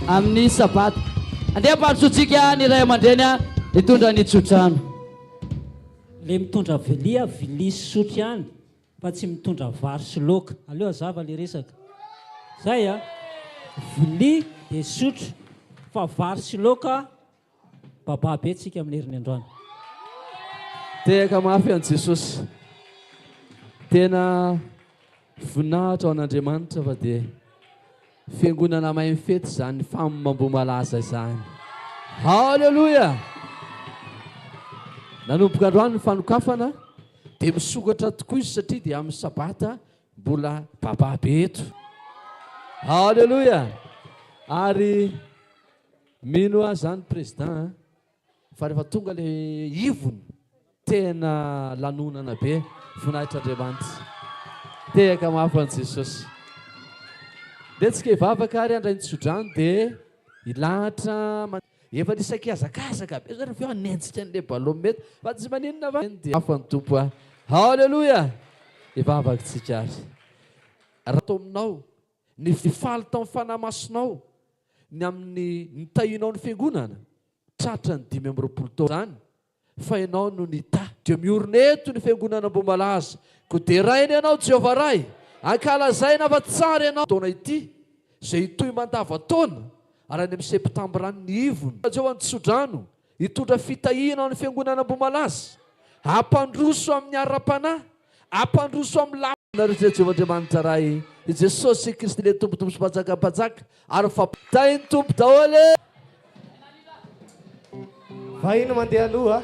Amin'ny Sabata. Andeha ampandrosoantsika ny ray aman-dreny hitondra ny tsodrano. Le mitondra vilia, vilia sy sotro ihany fa tsy mitondra vary sy laoka. Aleo hazava le resaka. Zay a! Vilia dia sotro fa vary sy laoka Baba be tsika amin'ny heriny androany. Tehaka mafy an'i Jesosy. Tena voninahitra ho an'Andriamanitra fa dia fiangonana mahay mifety izany femme Ambohimalaza izany. Haleloia! Nanomboka androany ny fanokafana dia misokatra tokoa izy satria dia amin'ny sabata mbola baba be eto. Haleloia! Ary Mino aho zany président a, fa rehefa tonga le ivony tena lanonana be, voninahitr' Andriamanitra. Tehaka mafy ho an'i Jesosy. Letsika hivavaka ary handray ny tsodrano dia hilahatra. Efa nisy sakihazakazaka be zany avy eo hanenjika an'ilay ballon mety fa tsy maninona fa eny dia hafa ny Tompo a. Haleloia! Hivavaka tsika ary. Raha atao aminao Ny fifaly tamin'ny Fanahy Masinao ny amin'ny nitahianao ny Fiangonana tratra ny dimy amby roapolo taona izany fa Ianao no nitahy. Dia miorina eto ny Fiangonana Ambohimalaza koa deraina Ianao Jehovah Ray, ankalazaina fa tsara Ianao taona ity izay hitohy mandavan-taona ary any amin'ny Septambra any ny ivon'ny Rajehovah ny tso-drano Hitondra fitahiana ho an'ny Fiangonana Ambohimalaza, hampandroso amin'ny ara-panahy, hampandroso amin'ny lafiny. Anareo Ray Jehovah Andriamanitra Ray, i Jesosy Kristy ilay Tompontompo sy Mpanjakan'ny mpanjaka, ary fa. Tahin'ny Tompo daholo e! Vahiny mandeha aloha.